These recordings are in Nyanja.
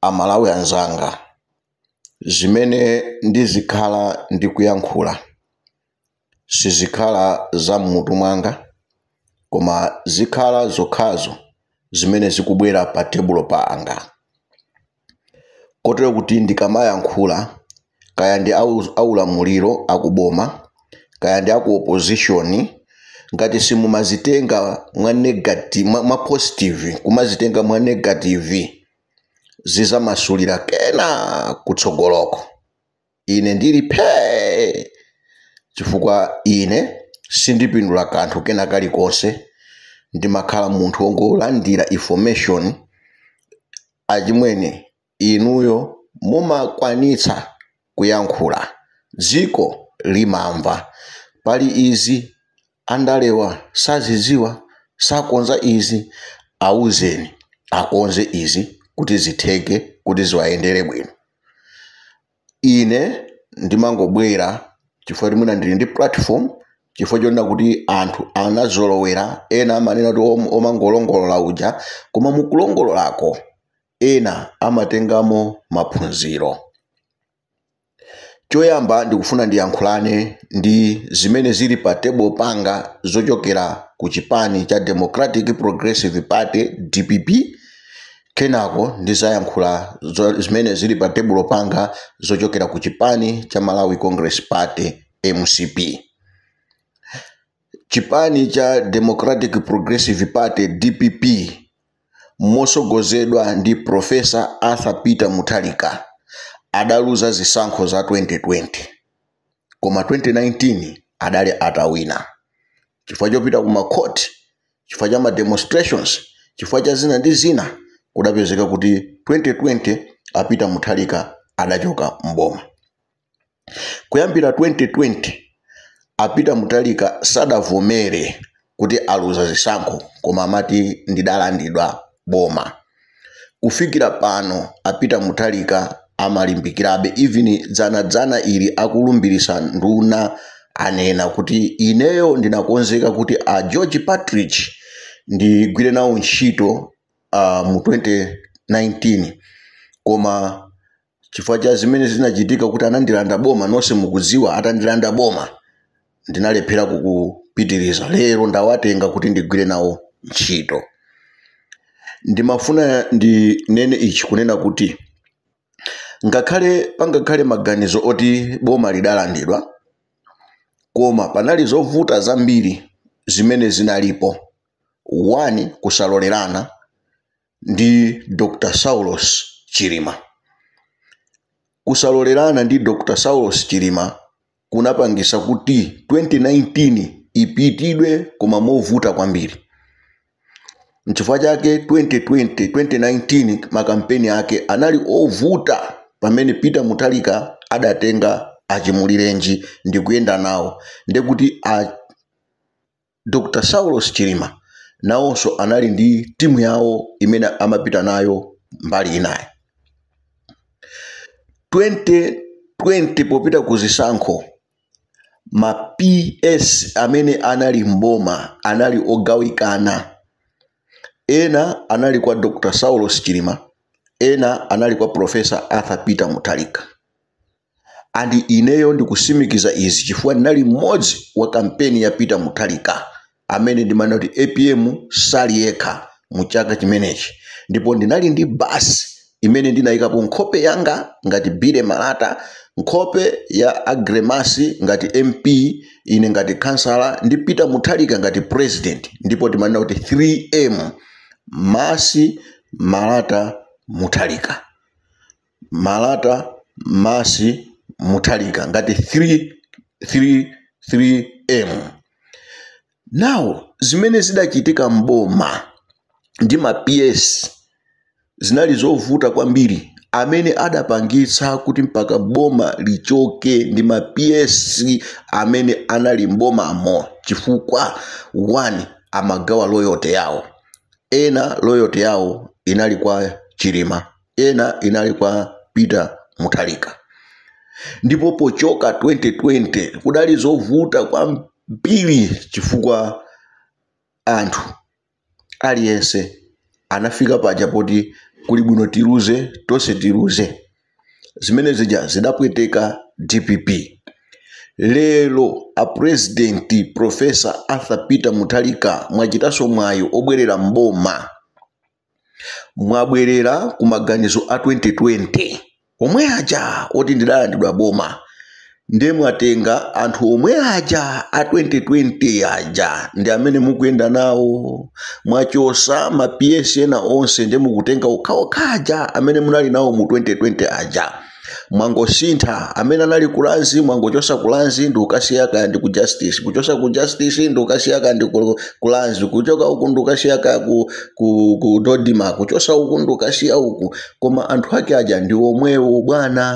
Amalawi anzanga, zimene ndizikhala ndikuyankhula sizikhala za m'mutu mwanga koma zikhala zokhazo zimene zikubwera patebulo panga kotero kuti ndikamayankhula kaya ndi aulamuliro akuboma kaya ndi aku opposition ngati simumazitenga mwa, mwa positive kumazitenga mwa negative zizamasulira kena kutsogoloko ine ndili phee chifukwa ine sindipindula kanthu kena kalikonse ndimakhala munthu wongolandira information achimwene inuyo mumakwanitsa kuyankhula dziko limamva. Pali izi andalewa sazidziwa? Sakonza izi? Auzeni akonze izi kuti zitheke kuti ziwayendere bwino. Ine ndimangobwera chifukwa choti mwina ndili ndi platform chifukwa chonena kuti anthu anazolowera ena amanena kuti omangolongolola uja koma mukulongololako ena amatengamo maphunziro. Choyamba ndikufuna ndiyankhulane ndi zimene zili pa table panga zochokera ku chipani cha Democratic Progressive Party, dpp, kenako ndizayankhula zimene zili pa tebulo panga zochokera ku chipani cha Malawi Congress Party, mcp. Chipani cha Democratic Progressive Party, dpp, mosogozedwa ndi Professor Arthur Peter Mutharika adaluza zisankho za 2020 koma 2019 adali atawina chifukwa chopita ku makoti chifukwa cha ma demonstrations chifukwa cha zina ndi zina kudapezeka kuti 2020 a Peter Mutharika adachoka mboma kuyambira 2020 a Peter Mutharika sadavomere kuti aluza zisankho koma amati ndidalandidwa boma kufikira pano a Peter Mutharika amalimbikirabe even dzanadzana ili akulumbirisa nduna anena kuti ineyo ndinakonzeka kuti a George Partridge ndigwire nawo ntchito uh, mu 2019 koma chifukwa cha zimene zinachitika kuti anandilanda boma nonse mukudziwa atandilanda boma ndinalephera kupitiriza lero ndawatenga kuti ndigwire nawo ntchito ndimafuna ndinene ichi kunena kuti ngakhale pangakhale maganizo oti boma lidalandidwa koma panali zovuta zambiri zimene zinalipo one kusalolerana ndi Dr Saulos Chilima. Kusalolerana ndi Dr Saulos Chilima kunapangisa kuti 2019 ipitidwe koma movuta kwambiri. Nchifukwa chake 2019 makampeni ake anali ovuta pamene Peter Mutharika adatenga achimulirenji ndikuyenda nawo ndekuti Dr Saulos Chilima nawonso anali ndi timu yawo imene amapita nayo mbali inayi. 2020 popita ku zisankho, ma PS amene anali m'boma anali ogawikana. Ena anali kwa Dr Saulos Chilima, ena anali kwa Professor Arthur Peter Mutharika. and ineyo ndikusimikiza izi chifukwa ndinali mmodzi wa kampeni ya Peter Mutharika amene ndimanena kuti apm sali yekha mu chaka chimenechi ndipo ndinali ndi basi imene ndinayikapo nkhope yanga ngati Billy Malata, nkhope ya a Gremasi ngati MP, ine ngati khansala ndi Peter Mutharika ngati president ndipo timanena kuti 3M Masi Malata Mutharika. Malata, Masi, Mutharika ngati 3 3 3 M. Now zimene zidachitika m'boma ndi ma PS zinali zovuta kwambiri. Amene adapangitsa kuti mpaka boma lichoke ndi ma PS amene anali m'bomamo chifukwa one amagawa loyalty yawo. Ena loyalty yawo inali kwa Chilima. ena inali kwa peter mutharika ndipo pochoka 2020 kudali zovuta kwambiri chifukwa anthu aliyense anafika paja poti kuli bwino tiluze tonse tiluze zimene zija zidapweteka dpp lero apurezidenti profesa arthur peter mutharika mwachitanso mwayi obwerera mboma mwabwerera ku maganizo a 2020 omwe aja oti ndidalandidwa boma nde mwatenga anthu omwe aja a 2020 aja ndi amene mukuyenda nawo mwachosa ma PS ena onse nde mukutenga okhaokha aja amene munali nawo mu 2020 aja mwangosintha amene anali ku Lands mwangochosa ku Lands ndikukasiya kaya ndi ku justice kuchosa ku justice ndikukasiya kaya ndi ku- ku Lands kuchoka uku ndikukasiya kaya ku, ku, ku dodima kuchosa uku ndikukasiya uku koma anthu ake aja ndi omwewo bwana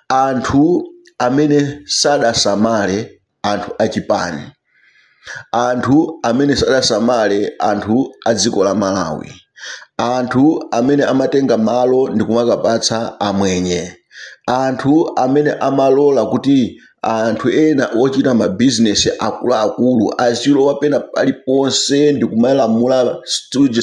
anthu amene sadasamale anthu a chipani, anthu amene sadasamale anthu a dziko la Malawi, anthu amene amatenga malo ndikumakapatsa amwenye, anthu amene amalola kuti anthu ena ochita ma business akuluakulu azilowa pena paliponse ndikumalamula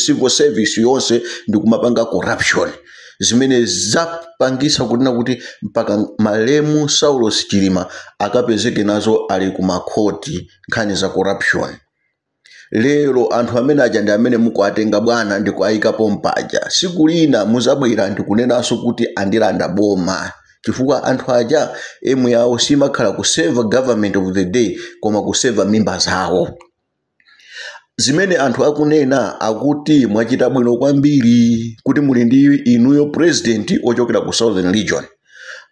civil service yonse ndikumapanga corruption. zimene zapangisa kunena kuti mpaka malemu saulos chilima akapezeke nazo ali ku makhoti nkhani za corruption lero anthu amene aja ndi amene mukuwatenga bwana ndi kuwayika pompaja siku lina muzabwera ndikunenanso kuti andilanda boma chifukwa anthu aja aim yawo simakhala ku serve government of the day koma ku serve mimba zawo zimene anthu akunena akuti mwachita bwino kwambiri kuti muli ndi inuyo president ochokera ku southern region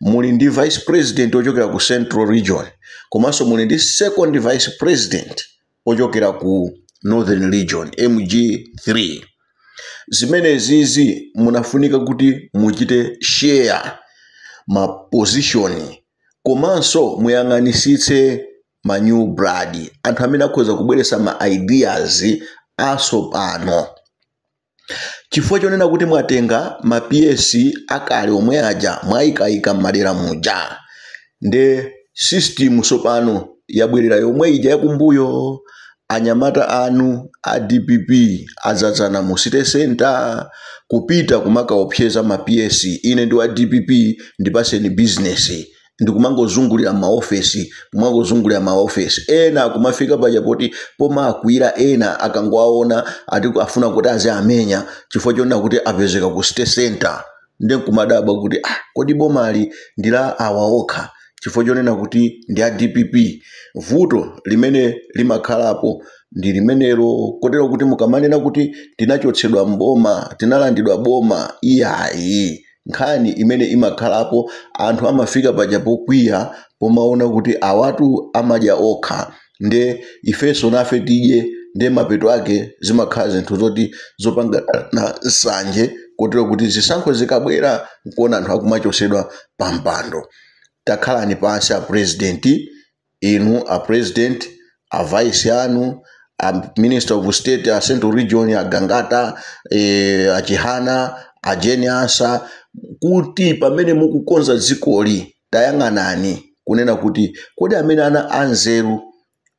muli ndi vice president ochokera ku central region komanso muli ndi second vice president ochokera ku northern region mg3 zimenezizi munafunika kuti muchite share ma position komanso muyang'anisitse ma new blood anthu amene akhoza kubweretsa ma ideas atsopano chifukwa chonena kuti mwatenga ma ps akale omwe aja mwayikayika m'madera muja nde system tsopano yabwerera yomwe ija yakumbuyo anyamata anu a dpp adzadzana mu city center kupita kumakaopseza ma ps ine ndi wa dpp ndipaseni business ndikumangozungulira maofesi kumangozungulira maofesi ena kumafika paja poti pomakwira ena akangowaona ati afuna kuti aziamenya chifukwa chonena kuti apezeka ku city center nde nkumadabwa kuti ah, kodi bomali ndi la awa okha chifukwa chonena kuti ndi a dpp vuto limene limakhalapo ndi limenelo kotero kuti mukamanena kuti tinachotsedwa mboma tinalandidwa boma iyayi nkhani imene imakhalapo anthu amafika paja pokwiya pomaona kuti awatu amadya okha nde ifenso nafe tidye nde mapeto ake zimakhala zinthu zoti zopangana nsanje kotero kuti zisankho zikabwera nkuona anthu akumachotsedwa pampando takhalani pansi a president inu a president a vice anu a minister of state a central region a gangata e, a chihana a Jane Ansah kuti pamene mukukonza dzikoli tayang'anani kunena kuti kodi amene ana anzeru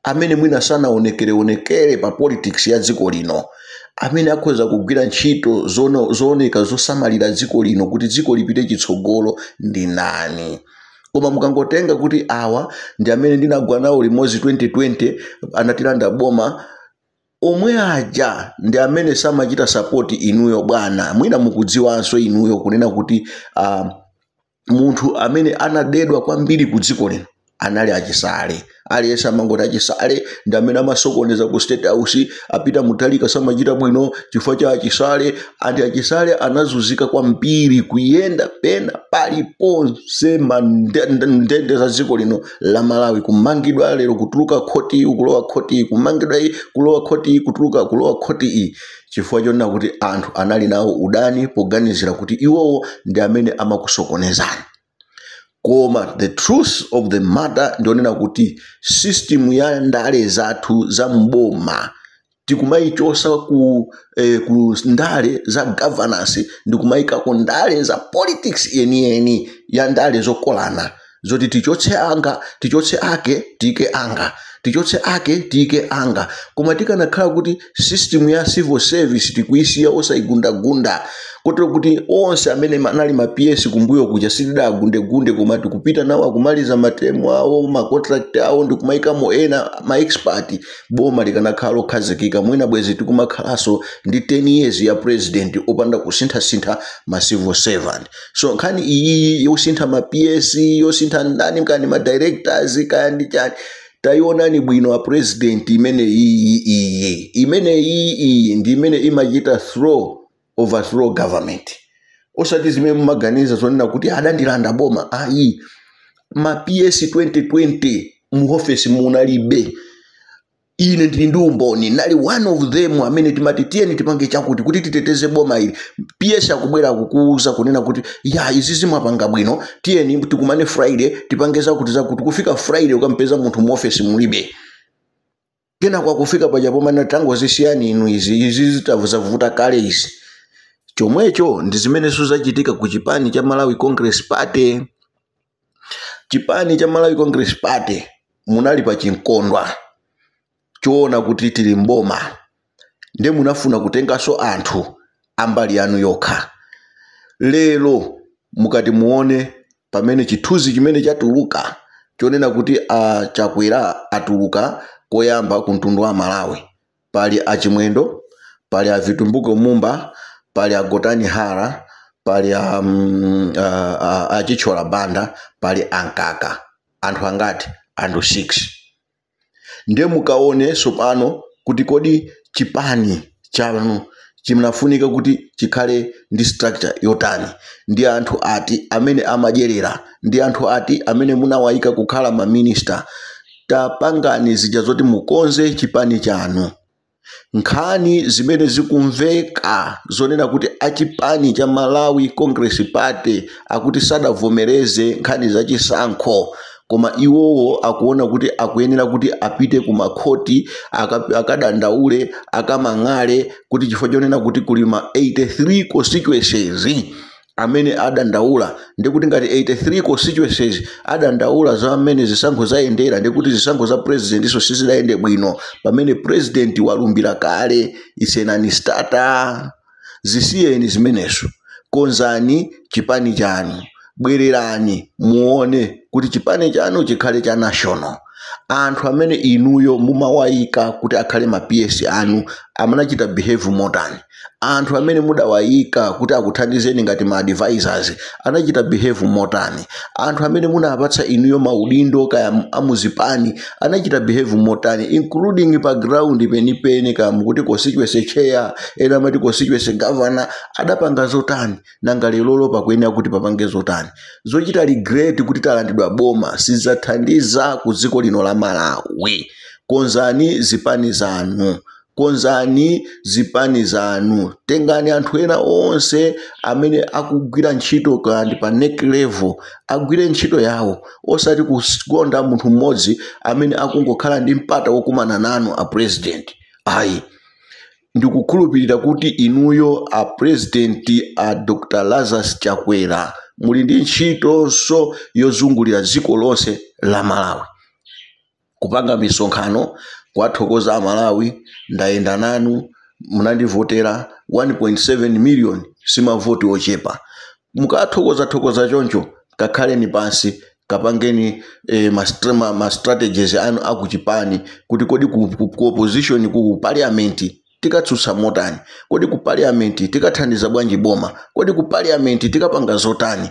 amene mwina sanaonekereonekere pa politics ya dziko lino amene akhoza kugwira ntchito zono- zooneka zosamalira dziko lino kuti dziko lipite chitsogolo ndi nani koma mukangotenga kuti awa ndi amene ndinagwa nawo limodzi 2020 anatilanda boma omwe aja ndi amene samachita sapoti inuyo bwana mwina mukudziwanso inuyo kunena kuti uh, munthu amene anadedwa kwambiri ku dziko lino anali a Chisale aliyense amangoti a Chisale ndi amene amasokoneza ku state house a Peter Mutharika samachita bwino chifukwa cha a Chisale and a Chisale anazunzika kwambiri kuyenda pena paliponse m'nde- nde- ndende za dziko lino la malawi kumangidwa lero kutuluka khoti iyi kulowa khoti iyi kumangidwa iyi kulowa khoti iyi kutuluka kulowa khoti iyi chifukwa chonena kuti anthu anali nawo udani poganizira kuti iwowo ndi amene amakusokonezani koma the truth of the matter ndi yonena kuti system ya ndale zathu za mboma tikumayichosa ku, eh, ku ndale za governance ndikumayika ku ndale za politics yeniyeni ya ndale zokolana zoti tichotse anga tichotse ake tiike anga tichotse ake tiike anga koma tikanakhala kuti system ya civil service tikuisiya osayigundagunda kotero kuti onse amene ma- anali ma ps kumbuyo kuja sitidawagundegunde koma tikupita nawo akumaliza matemu awo macontract awo ndikumayikamo ena ma expert boma likanakhala lokhazikika mwina bwezi tikumakhalanso ndi 10 years ya president opanda kusinthasintha ma civil servant so nkhani iyi yosintha ma ps yosintha ndani kaya ma directors kaya ndi chani tayionani bwino a president imene iyi iyi imene iyi iyi ndi imene imachita throw overthrow government osati zimene mumaganiza zonena kuti adandilanda boma ayi ma ps 2020 mu office munalibe ine ndili ndi umboni nali one of them amene timati tiyeni tipange chakuti kuti titeteze boma ili ps akubwera kukuuza kunena kuti ya izi zomwe mwapanga bwino tiyeni tikumane friday tipange zakuti zakuti kufika friday ukampeza munthu mu office mulibe kenako akufika paja pomwe tangozisiyani inu izi izi zitavutavuta kale izi chomwecho ndi zimenenso zachitika ku chipani cha malawi congress party chipani cha malawi congress party munali ndi chimkondwa choona kuti tili mboma nde munafuna kutenganso anthu ambali yanu yokha lero mukati muone pamene chithunzi chimene chatuluka chonena kuti a chakwera atuluka koyamba ku mtundu wa malawi Pali a Chimwendo, pali a Vitumbiko Mumba, pali a Gotani Hara, pali a, mm, a, a, a Chithyola Banda, pali a Mkaka. Anthu angati? Anthu 6. Ndiye mukaone tsopano kuti kodi chipani chanu chinafunika kuti chikhale ndi structure yotani ndi anthu ati amene amadyerera ndi anthu ati amene munawayika kukhala maminista tapangani zija zoti mukonze chipani chanu nkhani zimene zikumveka zonena kuti achipani cha malawi congress party akuti sadavomereze nkhani za chisankho koma iwowo akuona kuti akuyenera kuti apite ku makhoti aka- akadandaule akamang'ale kuti chifukwa chonena kuti kuli ma 83 constituencies amene adandaula ndikuti ngati 83 constituencies adandaula za mmene zisankho zayendera ndikuti zisankho za presidentiso sizidayende bwino pamene president walumbira kale isenani state zisiyeni zimenezo konzani chipani chanu bwererani muone kuti chipani chanu chikhale cha national anthu amene inuyo mumawayika kuti akhale ma ps anu amanachita behave motani anthu amene mudawayika kuti akuthandizeni ngati ma advisors anachita behave motani anthu amene munapatsa inuyo maudindo kaya amuzipani anachita behave motani including pa ground penipeni kaya mukuti constituency chair ena amati constituency governor adapanga zotani nanga lerolo pakuyenera kuti papange zotani zochita regret kuti talandidwa boma sizathandiza ku dziko lino la malawi konzani zipani zanu konzani zipani zanu tengani anthu ena onse amene akugwira ntchito kandi pa NEC level agwire ntchito yawo osati kukonda munthu mmodzi amene akungokhala ndi mpata wokumana nanu a president ayi ndikukhulupirira kuti inuyo a president a dr lazarus chakwera muli ndi ntchitonso yozungulira dziko lonse la malawi kupanga misonkhano kuwathokoza amalawi ndayenda nanu munandivotera 1.7 million simavoti ochepa mukathokoza thokoza choncho kakhaleni pansi kapangeni eh, ma, stra- ma, ma strategies anu akuchipani kuti kodi ku, ku, ku opposition ku parliament tikatsutsa motani kodi ku parliament tikathandiza bwanji boma kodi ku parliament tikapanga zotani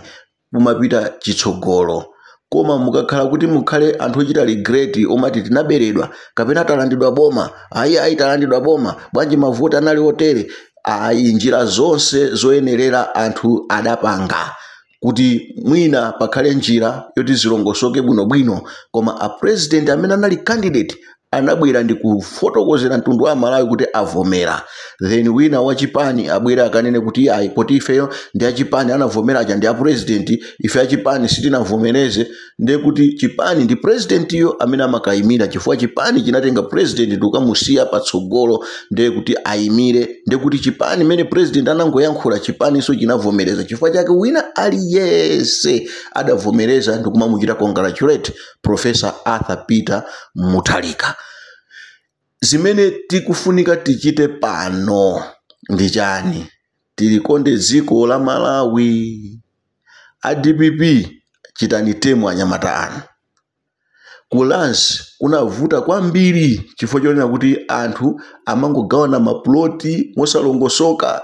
kumapita chitsogolo koma mukakhala kuti mukhale anthu ochita regret omati tinaberedwa kapena talandidwa boma ayi ayi talandidwa boma bwanji mavoti anali otere ayi njira zonse zoyenerera anthu adapanga kuti mwina pakhale njira yoti zilongosoke bwinobwino koma a president amene anali candidate anabwera ndikufotokozera mtundu wa amalawi kuti avomera then wina wa chipani abwere akanene kuti ayi poti ifeyo ndi achipani anavomera aja ndi apurezidenti ife achipani sitinavomereze ndiye kuti chipani ndi purezidentiyo amene amakayimira chifukwa chipani chinatenga purezidenti ndikukamusiya patsogolo ndiye kuti ayimire ndiye kuti chipani mmene purezidenti anangoyankhula chipaninso chinavomereza chifukwa chake wina aliyense adavomereza ndikumamuchita congratulate Professor Arthur Peter Mutharika. Zimene tikufunika tichite pano ndi chani? Tilikonde dziko la Malawi. A dpp chitani temu anyamata anu. Ku Lands kunavuta kwambiri chifukwa chonena kuti anthu amangogawana mapuloti mosalongosoka.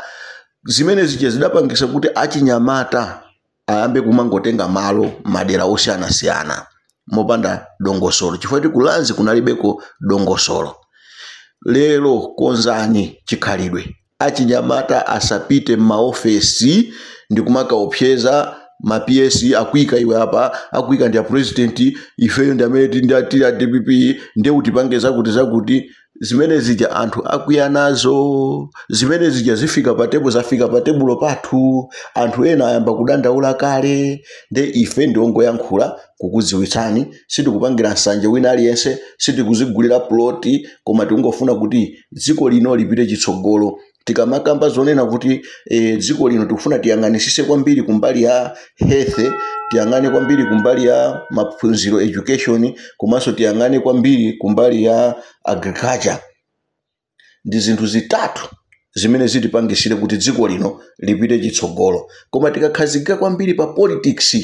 Zimene zija zidapangisa kuti achinyamata ayambe kumangotenga malo madera osiyanasiyana mopanda dongosolo chifukwa kuti ku Lands kunalibeko dongosolo lero konzani chikhalidwe achinyamata asapite m'maofesi ndi kumakaopseza ma PS akuika iwe apa akuika ndi a president ifeyo ndi amene tili ndi a- tili a DPP ndiye utipange zakuti zakuti zimene zija anthu akwiya nazo zimene zija zifika pa tebulo zafika pa tebulo pathu anthu ena ayamba kudandaula kale nde ife ndiongoyankhula kukudziwitsani sitikupangira nsanje wina aliyense sitikuzigulira ploti koma tikungofuna kuti dziko lino lipite chitsogolo tikamakamba zonena kuti e, dziko lino tikufuna tiyang'anisise kwambiri kumbali ya health tiyang'ane kwambiri kumbali ya maphunziro education komanso tiyang'ane kwambiri kumbali ya agriculture ndi zinthu zitatu zimene zitipangisire kuti dziko lino lipite chitsogolo koma tikakhazikika kwambiri pa politics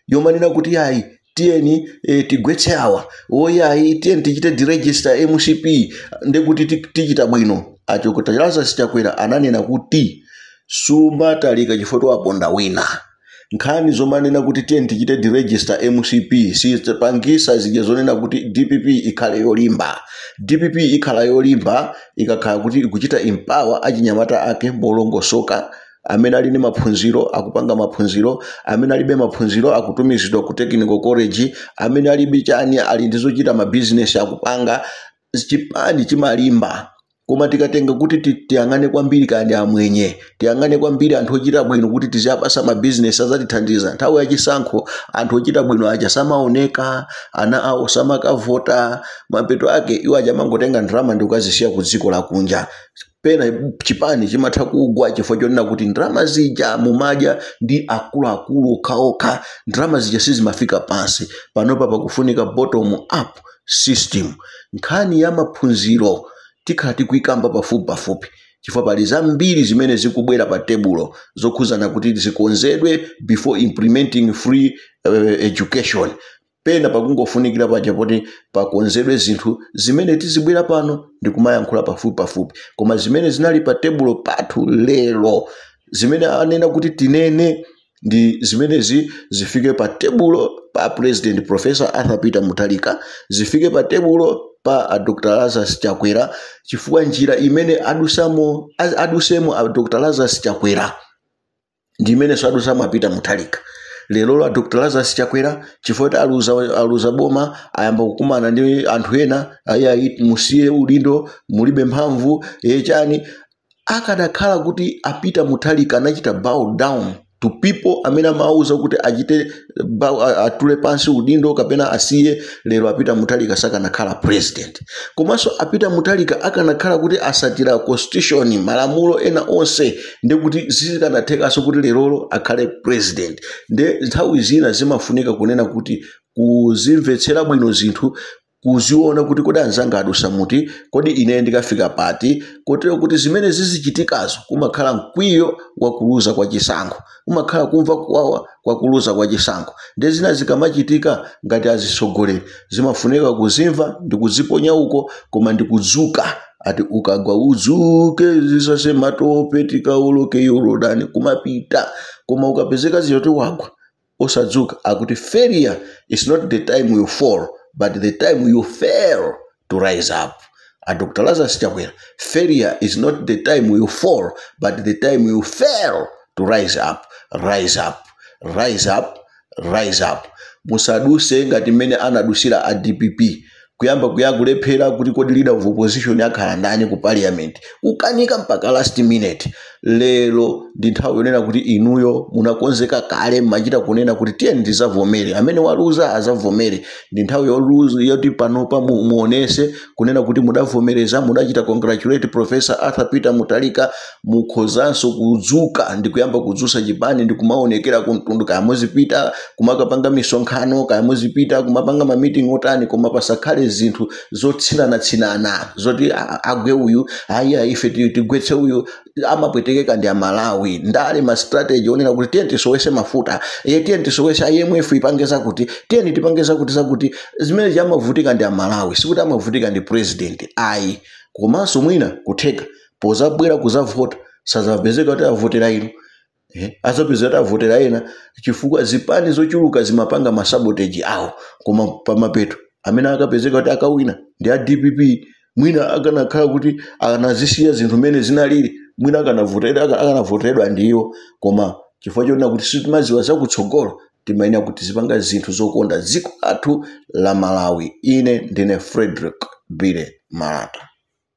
yomanena kuti ayi tiyeni e, tigwetse awa woyayi tiyeni tichite deregister mcp ndekuti ti- tichita bwino a dokotala lazarus chakwera ananena kuti sumatalika chifukwa waponda wina nkhani zomanena kuti tiyeni tichite deregister mcp sipangisa zija zonena kuti dpp ikhale yolimba dpp ikhala yolimba ikakhala kuti ikuchita empower achinyamata ake molongosoka amene ali ndi maphunziro akupanga maphunziro amene alibe maphunziro akutumizidwa ku technical college amene alibe chani ali ndi zochita mabizinesi akupanga chipani chimalimba koma tikatenga kuti ti- tiyang'ane kwambiri kaya ndi amwenye tiyang'ane kwambiri anthu ochita bwino kuti tiziyapasa mabizinesi azatithandiza nthawi yachisankho anthu ochita bwino aja samaoneka ana awo samakavota mapeto ake iwo aja amangotenga ndalama ndi kukazisiya ku dziko lakunja pena chipani chimatha kugwa chifukwa chonena kuti ndalama zija mumadya ndi akuluakulu okhaokha ndalama zija sizimafika pansi panopa pakufunika bottom up system nkhani ya maphunziro tikhala tikuyikamba pafupi pafupi chifukwa pali zambiri zimene zikubwera pa tebulo zokhuzana kuti zikonzedwe before implementing free uh, education Pena pakungofunikira paja poti pakonzedwe zinthu zimene tizibwera pano ndi kumayankhula pafupipafupi. Koma zimene zinali pa tebulo pathu lero, zimene anena kuti tinene ndi zimenezi zifike pa tebulo pa President Professor Arthur Peter Mutharika, zifike pa tebulo pa a Dr. Lazarus Chakwera chifukwa njira imene adusa- adusamo a Dr. Lazarus Chakwera ndi imenenso adusamo a Peter Mutharika lerolo a dr lazarus chakwera chifukwa kuti aluza, aluza boma ayamba kukumana ndi anthu ena ayayi musiye udindo mulibe mphamvu e chani akadakhala kuti a Peter Mutharika anachita bow down to people amene amawawuza kuti achite ba- a- atule pansi udindo kapena asiye lero a Peter Mutharika sakanakhala president komanso a Peter Mutharika akanakhala kuti atsatira constitution malamulo ena onse ndi kuti sizikanathekanso kuti lerolo akhale president nde nthawi zina zimafunika kunena kuti kuzimvetsera bwino zinthu kuziona kuti kodi anzanga adusa muti kodi ine ndikafika pati kotero kuti zimene zizichitikazo kumakhala mkwiyo wakuluza kwa chisankho kumakhala kumva kuwawa kwakuluza kwa chisankho ndi zina zikamachitika ngati azitsogoleri zimafunika kuzimva ndi kuziponya uko koma ndi kudzuka ati ukagwa udzuke uzisase matope tikawoloke yorodani kumapita koma ukapezeka zija kuti wagwa osadzuka akuti failure is not the time you fall but the time you fail to rise up a dr lazarus chakwera failure is not the time you fall but the time you fail to rise up rise up rise up rise up musaduse ngati mmene anadusira a dpp kuyamba kuya kulephera kuti kodi leader of opposition akhala ndani ku parliament kukanika mpaka last minute lero ndi nthawi yonena kuti inuyo munakonzeka kale mmachita kunena kuti tiyeni tizavomere amene waluza azavomere ndi nthawi yoti panopa mu- muonese kunena kuti mudavomereza mudachita congratulate professor arthur peter mutharika mukhozanso kudzuka ndi kuyamba kudzutsa chipani ndi kumaonekera kumtundu kaya muzipita kumakapanga misonkhano kaya muzipita kumapanga mamiting otani koma pasakhale zinthu zotsinanatsinana zoti "Ah, agwe uyu ayiya ife ti- tigwetse uyu amapwetekeka ndi amalawi ndale ma strategy onena kuti tiyeni tisowese mafuta e tiyeni tisowese imf ipange zakuti tiyeni tipange zakuti zakuti zimene amavutika ndi amalawi sikuti amavutika ndi president ayi komanso mwina kutheka pozabwera kuzavota sazapezeka kuti avotera inu eh, azapezeka kuti avotera ena chifukwa zipani zochuluka zimapanga masaboteji awo koma pamapeto amene akapezeka kuti akawina ndi a dpp mwina akanakhala kuti anazisiya zinthu mmene zinalili mwina akanavotera aka- akanavoteredwa ndi iwo koma chifukwa chonena kuti sitimaziwa zakutsogolo timayenera kuti zipanga zinthu zokonda dziko lathu la malawi ine ndine frederick bile malata